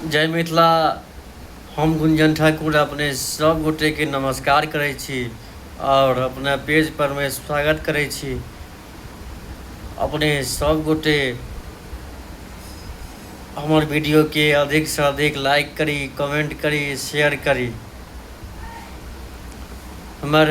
जय मिथिला हम गुंजन ठाकुर अपने सब गोटे के नमस्कार करै छी और अपना पेज पर में स्वागत करै छी अपने सब गोटे हमर वीडियो के अधिक से अधिक लाइक करी कमेंट करी शेयर करी हमर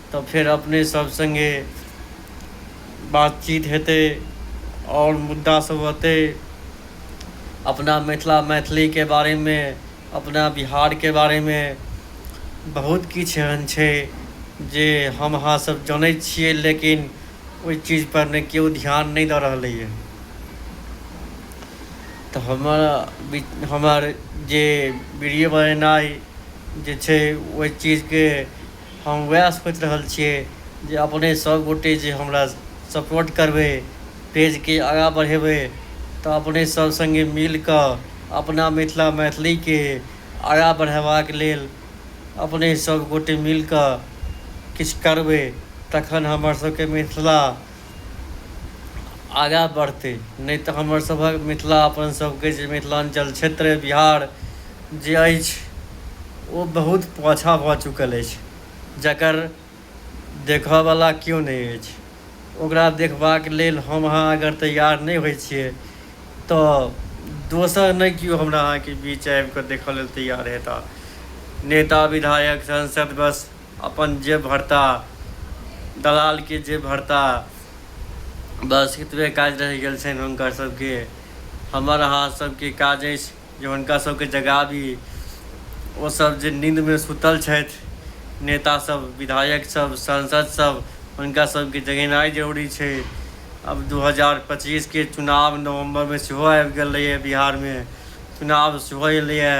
तऽ फेर अपने सब सङ्गे बातचीत हेतै आओर मुद्दा सब अतै अपना मिथिला मैथिलीके बारेमे अपना बिहारके बारेमे बहुत किछु एहन छै जे हम अहाँ सब जनै छियै लेकिन ओइ चीजपर ने केओ ध्यान नहि दऽ रहलैए तऽ हमर हमर जे बीडियो बनेनाइ जे छै ओइ चीजके हम वएह सोचि रहल छियै जे अपने सब गोटे जे हमरा सपोर्ट करबै पेजके आगाँ बढ़ेबै तऽ अपने सब सङ्गे मिल कऽ अपना मिथिला मैथिलीके आगाँ बढ़ेबाक लेल अपने सब गोटे मिल कऽ किछु करबै तखन हमर सबके मिथिला आगाँ बढ़तै नहि तऽ हमरसभक मिथिला अपनसभके जे मिथिलाञ्चल क्षेत्र बिहार जे अछि ओ बहुत पाछाँ भऽ चुकल अछि जकर देखयवला कियो नहि अछि ओकरा देखबाक लेल हम अहाँ अगर तैयार नहि होइत छियै तऽ दोसर नहि कियो हमरा अहाँके बीच आबि कऽ देखय लेल तैयार हेताह नेता विधायक सांसद बस अपन जेब भरता दलालके जेब भरता बस एतबे काज रहि गेल छनि हुनकर सभके हमर अहाँ सभके काज अछि जे हुनका सभके जगाबी ओसभ जे नीन्दमे सुतल छथि नेतासभ विधायकसभ सांसदसभ हुनका सभके जगेनाइ जरूरी छै अब 2025 के चुनाव नवंबर में सेहो आबि गेल रहैए बिहारमे चुनाव सेहो एलैए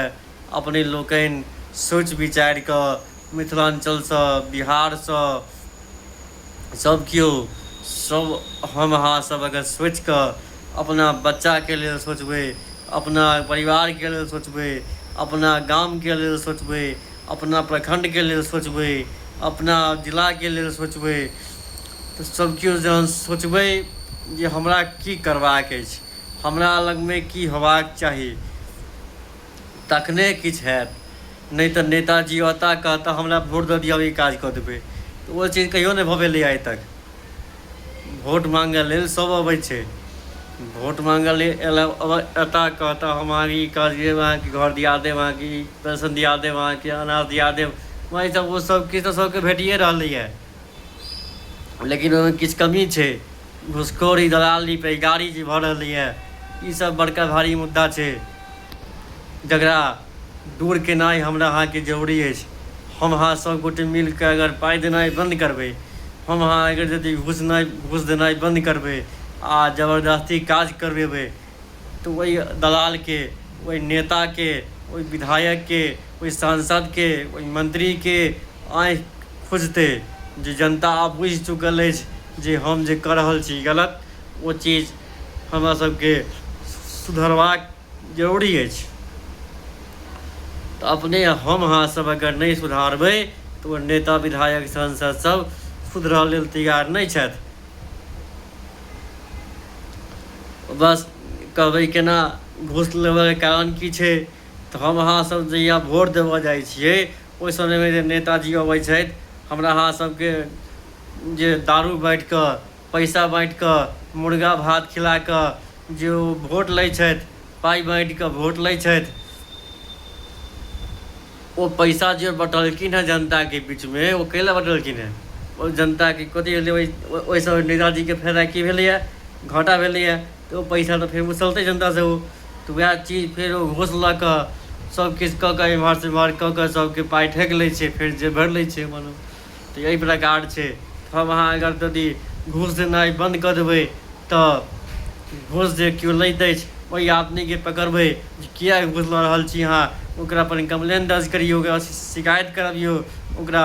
अपने लोकनि सोचि विचारि कऽ मिथिलाञ्चलसँ बिहारसँ सभ केओ सभ हम अहाँ सभ अगर सोचि कऽ अपना बच्चाके लेल सोचबै अपना परिवारके लेल सोचबै अपना गामके लेल सोचबै अपना प्रखण्डके लेल सोचबै अपना जिलाके लेल सोचबै तऽ सभ केओ जहन सोचबै जे हमरा की करबाक अछि हमरा लगमे की होयबाक चाही तखने किछु हैत नहि तऽ नेताजी औता कहता हमरा वोट दऽ दिअ ई काज कऽ देबै तऽ ओ चीज कहियो नहि भऽ भेलै आइ तक वोट माँगय लेल सभ अबै छै वोट माँगय लेल एता कहता हम अहाँके ई काज देब अहाँके घर दिया देब अहाँके ई पेंशन दिया देब अहाँके अनाज दिया देब वही सभ ओ सभ किछु तऽ सभके भेटिए रहलैए लेकिन ओहिमे किछु कमी छै घुसखोरी दलाली पे गाड़ी जे भऽ रहलै है ई सब बड़का भारी मुद्दा छै जकरा दूर केनाइ हमरा अहाँके जरूरी अछि हम अहाँ सब गोटे मिल के अगर पाइ देनाइ बंद करबै हम अहाँ अगर यदि घुसनाइ घुस देनाइ बंद करबै आ जबरदस्ती काज करबेबै तऽ ओहि दलालके ओहि नेताके ओहि विधायकके ओहि सांसदके ओहि मन्त्रीके आँखि खुजतै जे जनता आब बुझि चुकल अछि जे हम जे कऽ रहल छी गलत ओ चीज हमरा सबके सुधरबाक जरूरी अछि तऽ अपने हम अहाँ सब अगर नहि सुधारबै तऽ ओ नेता विधायक सांसद सब सुधरऽ लेल तैयार नहि छथि बस कहबै केना घूस लेबयके कारण की छै तऽ हम अहाँसभ जहिया वोट देबय जाइ छियै ओहि समयमे जे नेताजी अबै छथि हमरा अहाँसभके जे दारू बाँटि कऽ पैसा बाँटि कऽ मुर्गा भात खिला कऽ जे ओ वोट लै छथि पाइ बाँटि कऽ वोट लै छथि ओ पैसा जे बँटलखिन हँ जनताके बीचमे ओ कै लए बँटलखिन हँ ओ जनताके कथी भेलै ओहि ओहिसँ नेताजीके फायदा की भेलैए घाटा भेलैए तऽ ओ पैसा तऽ फेर उसलतै जनतासँ ओ तऽ उएह चीज फेर ओ घूस लऽ कऽ सभकिछु कऽ कऽ एम्हरसँ ओम्हर कऽ कऽ सभके पाइ ठकि लै छै फेर जे भरि लै छै अपन तऽ यही प्रकार छै हम अहाँ अगर यदि घूस देनाइ बन्द कऽ देबै तऽ घूस जे केओ लैत अछि ओहि आदमीके पकड़बै जे किया घूस लऽ रहल छी अहाँ ओकरा पर कम्प्लेन दर्ज करियौ ओकरा शिकायत करबियौ ओकरा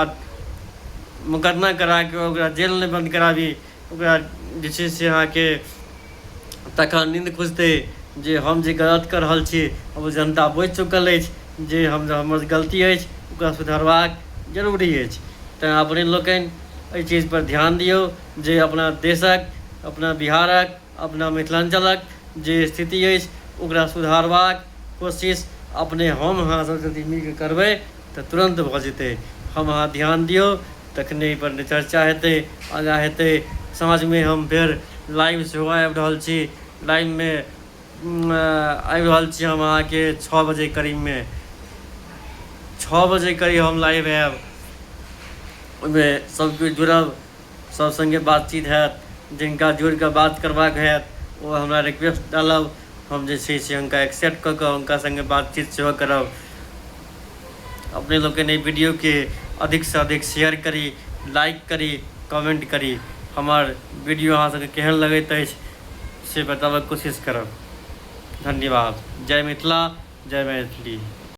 मुकदमा करा कऽ ओकरा जेलमे बन्द कराबी ओकरा जे छै से अहाँके तखन नीन्द खुजतै जे हम जे गलत कऽ रहल छी ओ जनता बुझि चुकल अछि जे हम हमर गलती अछि ओकरा सुधरबाक जरूरी अछि तेँ अपने लोकनि एहि चीजपर ध्यान दिऔ जे अपना देशके अपना बिहारके अपना मिथिलाञ्चलक जे स्थिति अछि ओकरा सुधारबाक कोशिश अपने हम अहाँ सब जदि मिल कऽ करबै तऽ तुरन्त भऽ जेतै हम अहाँ ध्यान दियौ तखने एहि पर चर्चा हेतै आगाँ हेतै साँझमे हम फेर लाइव सेहो आबि रहल छी लाइवमे आबि रहल छी हम अहाँके छओ बजे करीबमे छओ बजे करीब हम लाइव आयब ओहिमे सब केओ जुड़ब सब संगे बातचीत हैत जिनका जोड़ि कऽ बात करबाक हैत ओ हमरा रिक्वेस्ट डालब हम जे छै से हुनका एक्सेप्ट कऽ कऽ हुनका संगे बातचीत सेहो करब अपने लोकनि एहि वीडियोके अधिकसँ अधिक शेयर करी लाइक करी कमेंट करी हमर वीडियो अहाँ सबके केहन लगैत अछि से बताबक कोशिश करब धन्यवाद जय मिथिला जय मैथिली